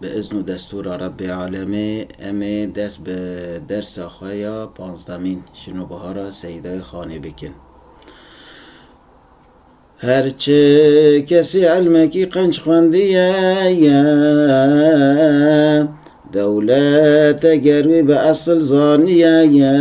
Bi izn û destûra Rebbê Alemê em ê dest bi dersa xwe ya panzdemîn ji nû bihara Seyîdayê Xanê bikin. Her çi kesî ilmekî qenc xwendiye ye. Dewlet eger wî bi esil zaniye ye.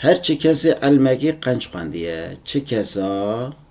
Her çi kesî ilmekî qenc xwendiye. Çi kesa?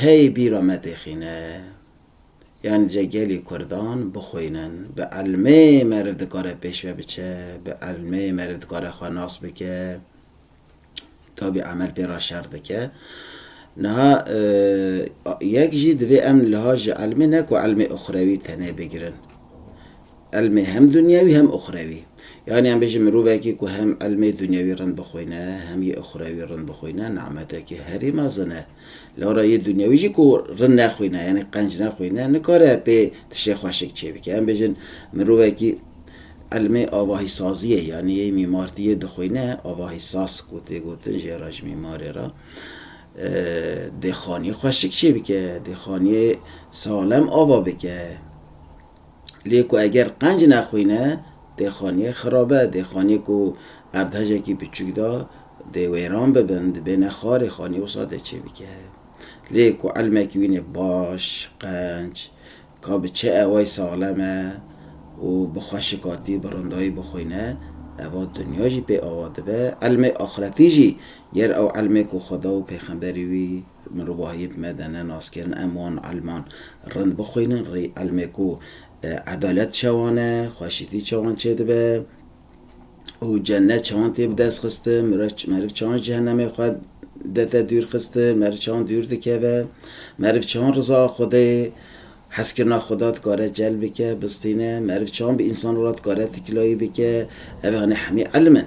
Hey bîra me têxîne. Yan ce gelî kurdan bixwînin. Bi elmê meriv dikare pêşve biçe, bi elmê meriv dikare xwe nas bike, tabî emel pê re şer dike. Niha yek jî divê em liha ji elmê ne ku elmê uxrewî tenê bigirin. Elmê hem dunyewî hem uxrewî. Yanî em bêjin mirovekî ku hem elmê dunyewî rind bixwîne hem yê uxrewî rind bixwîne, nimetekî herî mezin e. Lewra yê dunyawî jî ku rin nexwîne yanî qenc nexwîne nikare pê tiştê xweşik çêbike. Em bêjin mirovekî ilmê avahîsaziyê yanî yê mîmartiyê dixwîne, avahîsaz ku tê gotin jê re ji mîmarê re dê xaniyê xweşik çêbike, dê xaniyê salem ava bike. Lê ku eger qenc nexwîne dê xaniyê xirabe, dê xaniyê ku erdhejekî biçûk da dê wêran bibin, dibêne xarê, xaniyê wisa dê çê bike. Lê ku elmekî wînê baş, qenc, ka bi çê eway saxlem e û bi xweşikatî, bi rindayî bixwîne, eva dinya jî pê ava dibe, elmê axretî jî ger ew elmê ku Xweda û pêxemberî wî, Mirovahiyê bi me de ne nas kirin, em wan elman rind bixwînin, rê elmê ku edalet çawan e, xweşîtî çawan çêdibe û cenet çawan tê bi dest xistin, meriv çawan ji cehenemê xwe dete dûr xistin, meriv çawan dûr dikeve, meriv çawan rizaya Xwedayê, hezkirina Xweda dikare celb bike, bistîne, meriv çawan bi însanan re dikare tikilayî bike, ev anê hemî elm in.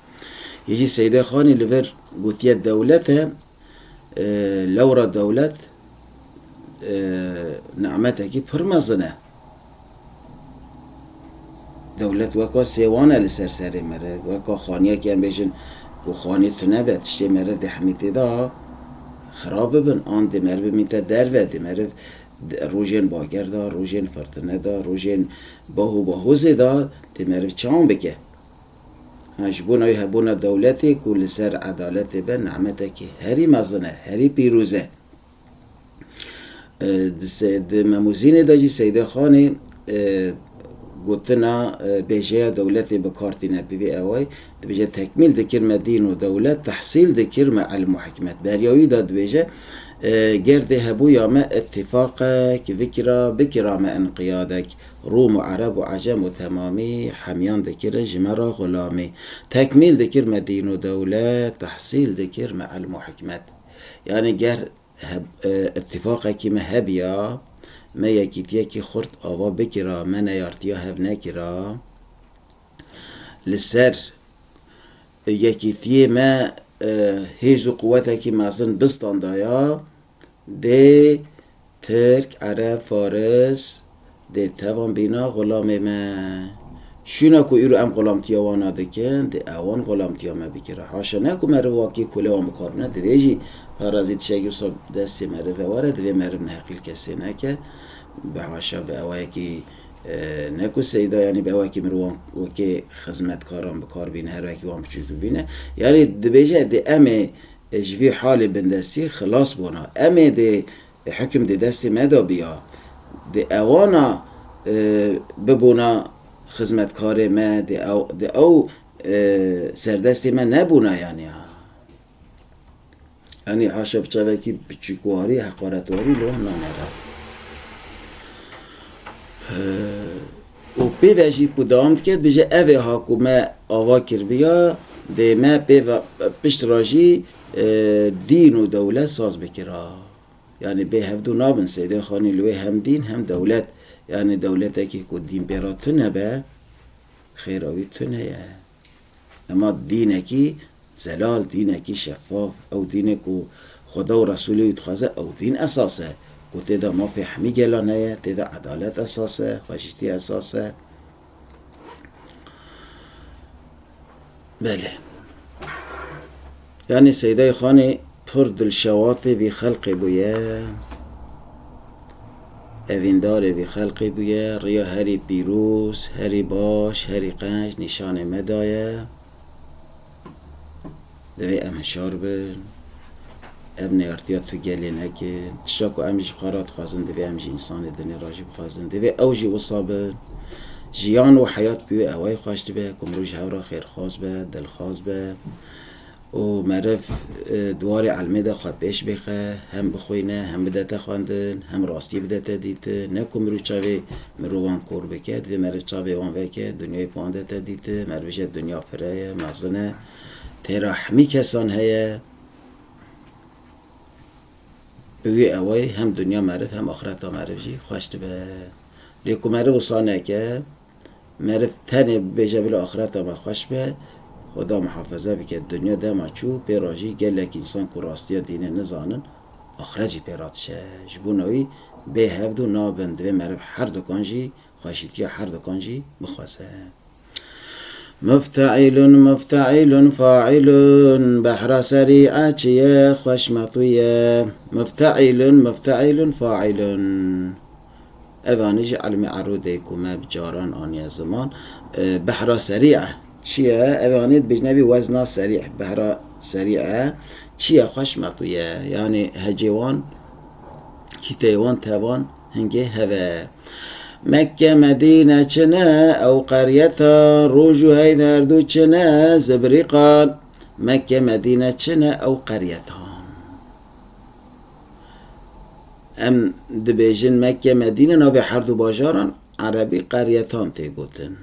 Hêjî Seyde Xanî li vir gotiye dewlet e, lewra dewlet nimetekî pir mezin e. Dewlet weka sêwan e li ser serê me re, weka xaniyekê em bêjin ku xanî tune be, tiştê meriv dê hemî tê de xirab bibin an dê meriv bimîte derve, dê meriv rojên bager de, rojên firtine de, rojên baho bahozê de dê meriv çawn bike. Ji bo navê hebûna dewletê ku li ser edaletê be nehmetekî herî mezin e, herî pîrûz e. Di Memûzînê de jî Seyde Xanê gotina bêjeya dewletê bi kar tîne. Bi vî awayî dibêje tekmîl dikir me dîn û dewlet, tehsîl dikir me ilm û hikmet. Beriya wî de dibêje gerdê hebûya me îtîfaq e, kivikira bikira me înqiyadek. Rûm û Ereb û Ecem û temamî hemiyan dikirin ji me re xulamî. Tekmîl dikir me dîn û dewlet, tehsîl dikir me elm û hikmet. Yanî ger îtîfaqekî me hebiya, me yekîtiyekî xurt ava bikira, me neyartiya hev nekira. Li ser yekîtiyê me hêz û quwetekî mezin bistandiya. Dê Tirk, Ereb, Faris dê tevan bîna xulamê me. Şûna ku îro em xulamtiya wan a dikin, dê ewan xulamtiya me bikin. Haşa ne ku meriv wakî kule wan bikar bine, divê jî parazî tiştekî wisa bi destê meriv ve were, divê meriv neheqîl kesê neke. Bi haşa bi ewayekî ne ku seyda yanî bi ewayekî mirovan wekê xizmetkaran bikar bîne, her wekî wan biçûktir bîne. Yanî dibêje dê em ê Ji vî halê bindestî xilas bona. Em ê dê hikm di destê me de biya. Dê ewana bibûna xizmetkarê me, dê ew serdestê me nebûna yanî ha. Yanî haşa bi çavekî biçûkwarî, heqaretwarî li wan nanere. Û pê ve jî ku dewam dike dibêje ev ê ha ku me ava kirdiya dê me pê ve pişt re jî dîn û dewlet saz bike ra. Yanî bê hevdu nabin Seydê Xanî li wê hem dîn hem dewlet. Yanî dewletekî ku dîn pê re tune be xêra wî tune ye. Dema dînekî zelal, dînekî şeffaf, ew dînê ku Xweda û Resûlê wî dixwaze, ew dîn esas e, ku tê de mafê hemî gelan heye, tê de edalet esas e, xweşîtî esas e. Belê. Yanî Seydayê Xanê pir dilşewatê vî xelqê bûye, evîndarê vî xelqê bûye, riya herî pîroz, herî baş, herî qenc nîşanê me daye. Divê em hişar bin, ev neyartiya tu gelê nekin. Tişta ku em ji xwe re dixwazin divê em ji însanê dinê re jî bixwazin. Divê ew jî wisa bin. Jiyan û heyat pîwê ewayî xweş dibe ku mirov ji hev re xêrxwaz be, dilxwaz be. û meriv di warê elmê de xwe pêş bêxe, hem bixwîne, hem bidete xwendin, hem rastî bidete dîtin. Ne ku mirov çavê mirovan kor bike, divê meriv çavê wan veke, dinyayê bi wan de te dîtin. Meriv jî dinya fire ye, mezin e. Tê re hemî kesan heye. Bi wî ewayî hem dinya meriv hem axireta meriv jî xweş dibe. Lê ku meriv wisa neke, Meriv tenê bibêje bila axireta me xweş be, Xweda mihafeze bike, dinya dema çû pê re jî gelek însan ku rastiya dînê nizanin axiret jî pê re dişe. Ji bona wî bê hevdû nabin, divê meriv herdukan jî xweşîtiya herdukan jî bixweze. Mufteîlun mufteîlun faîlun Behra serî e çi ye xweş metû ye Mufteîlun mufteîlun faîlun Ev anî jî elmê erûdê ku me bi caran aniye ziman, behra serî e. Çi ye? Ev anî dibêjin ev ê wezna serî, behra serî e. Çi ye? Xweş meqûye. Yanî hecê wan, kîteyê wan, tevan hingê hev e. Mekke, Medîne çi ne? Ew qeryeta roj û heyv her du çi ne? Zibrî qal. Mekke, Medîne çi ne? Ew qeryeta. Em dibêjin Mekke, Medîne navê her du bajaran erebî qeryetan tê gotin.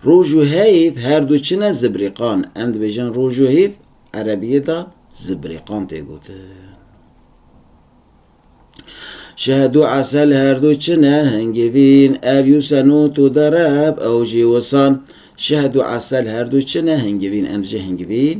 Roj û heyv her du çi ne zibrîqan. Em dibêjin roj û heyv erebiyê de zibrîqan tê gotin. Şehd û esel her du çi ne hingivîn. Er yû senût û dereb ew jî wisan. Şehd û esel her du çi ne hingivîn. Em dibêjin hingivîn.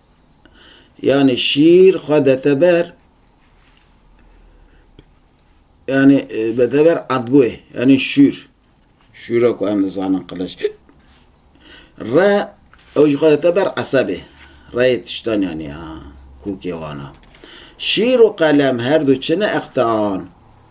yani şîîr xwe dete ber yani dete ber edbûyê yani şûr. Şûra ku em dizanin qiliç. Re ew jî xwe dete ber esebê. Reyê tiştan yani ha kûkê wan a. Şîr û qelem her du çi ne eqtean.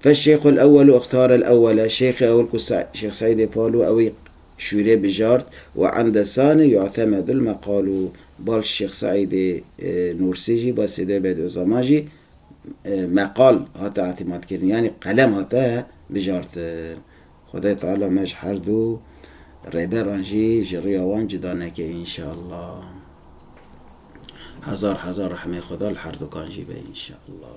Fe Şêx el Ewel û Ixtar el Ewel e, Şêxê Ewil ku Şêx Seîdê Palu ew ê şûrê bijart û ende sane Yu'temedul meqalu bal Şêx Seîdê Nûrsî jî bal Seîdê Bediuzaman jî meqal hate îtimadkirin yanî qelem hate bijartin. Xwedayê Teala me ji her du rêberan jî ji rûya wan cuda neke înşeallah. Hezar hezar rehmê Xweda li herdukan jî be înşeallah.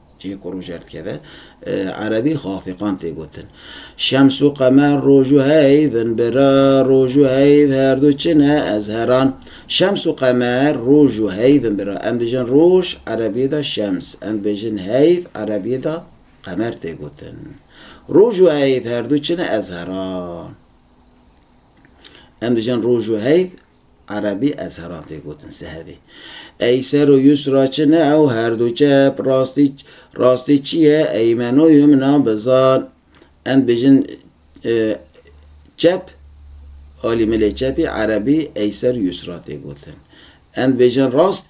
Cihê ku roj derdikeve, erebî xwe afîqan tê gotin. Şems û qemer roj û heyv in bi re, roj û heyv her du çi ne, ez heran. Şems û qemer roj û heyv in bi re. Em dibêjin roj, erebiyê de şems, em dibêjin heyv, erebiyê de qemer tê gotin. Roj û heyv her du çi ne, ez heran. Em dibêjin roj û heyv Erebî ezheran tê gotin sehevê. Ey ser û yusra çi ne ew her du çep, rastî rastî çi ye ey menoyê min a bizar. Em bêjin çep alî milê çepî erebî ey ser yusra tê gotin. Em bêjin rast